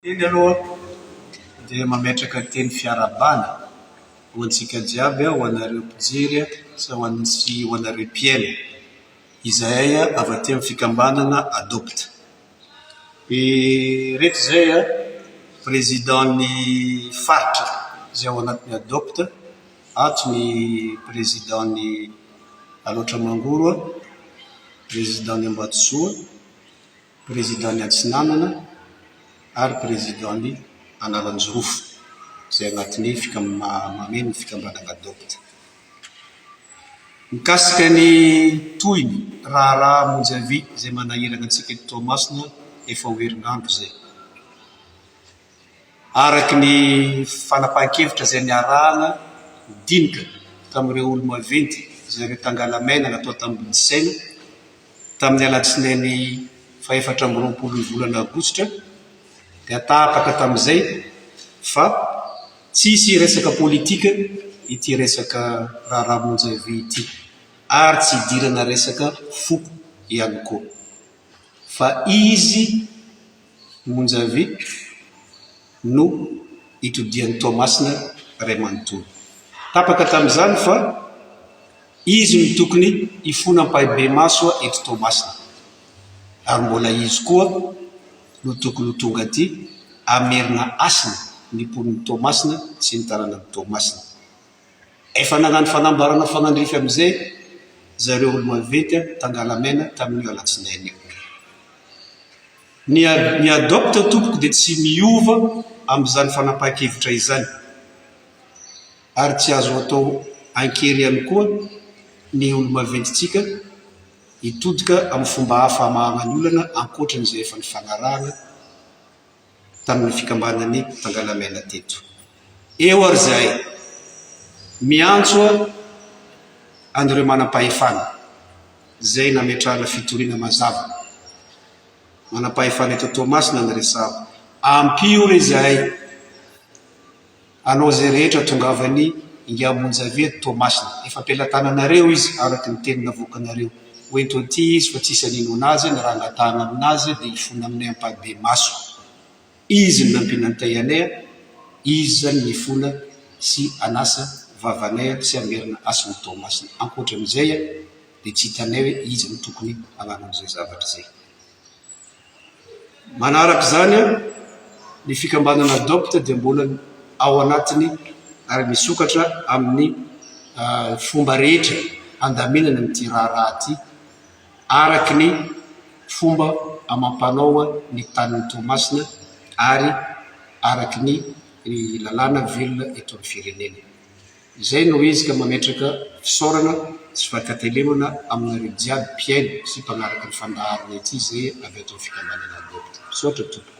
Eny aloha dia mametraka teny fiarahabana ho antsika jiaby aho, ho anareo mpijery sy ho antsika ho anareo mpihaino, izahay avy aty amin'ny fikambanana Adopt. Ireto izay président ny faritra izay ao anatin'ny Adopt, ato ny président ny Alaotra Mangoro, président ny Ambatozoa, Président ny Atsinanana ary Président ny Analanjirofo izay anatin'ny fikam mameno fikambanana Doct. Mikasika ny tohiny raharaha monjy avia izay manahirana antsika eto Toamasina efa ho herinandro izay. Araka ny fanapahan-kevitra izay niarahana dinika tamin'ireo olo-maventy izay ireo tangalamena natao tamboho saina tamin'ny alatsinainy fahefatra amby roapolo ny volana aogositra dia tapaka tamin'izay fa tsy hisy resaka politika ity resaka raharaha monja vy ity ary tsy hidirana resaka foko ihany koa fa izy Monjavie no itodihan'i Toamasina iray manontolo. Tapaka tamin'izany fa izy no tokony hifona ampahibemaso eto Toamasina ary mbola izy koa no tokony ho tonga aty hamerina hasina ny mponin'i Toamasina sy ny tanànan'i Toamasina. Efa nagnano fanambarana fanandrify amin'izay zareo olo-maventy any Tangalamena tamin'io alatsinainy io. Ny Adopte tompoko dia tsy miova amin'izany fanapahan-kevitra izany ary tsy azo atao an-kery ihany koa ny olo-maventintsika hitodika amin'ny fomba hafa hamahana ny olana ankoatran'izay efa nifanarahana tamin'ny fikambanan'ny Tangalamena teto. Eo ary izahay miantso an'ireo manam-pahefana izay nametrahana fitoriana mazava, manam-pahefana eto Toamasina no resahako, ampio re izahay. Allo izay rehetra tongavany ingahy Monja avy eto Toamasina. Efa am-pelatananareo izy araka ny teny navoakanareo. Ho ento aty izy fa tsisy haninoana azy na raha hangatahana aminazy dia hifona aminay ampahibemaso. Izy no nampianantay anay, izy izany no hifona sy hanasa vavanay sy hamerina hasin'i Toamasina. Ankoatran'izay dia tsy hitanay hoe iza no tokony hanao an'izay zavatra izay. Manaraka izany, ny fikambanana Adopt dia mbola ao anatin'ny ary misokatra amin'ny fomba rehetra handaminana an'ity raharaha ity araka ny fomba amam-panao ny tanin'i Toamasina ary araka ny lalàna velona eto amin'ny firenena. Izay no izy ka mametraka fisaorana sy fankatelemana aminareo jiaby mpihaino sy mpanaraka ny fandaharana ity zay avy ato amin'ny fikambanana Adopt. Misaotra tompoko.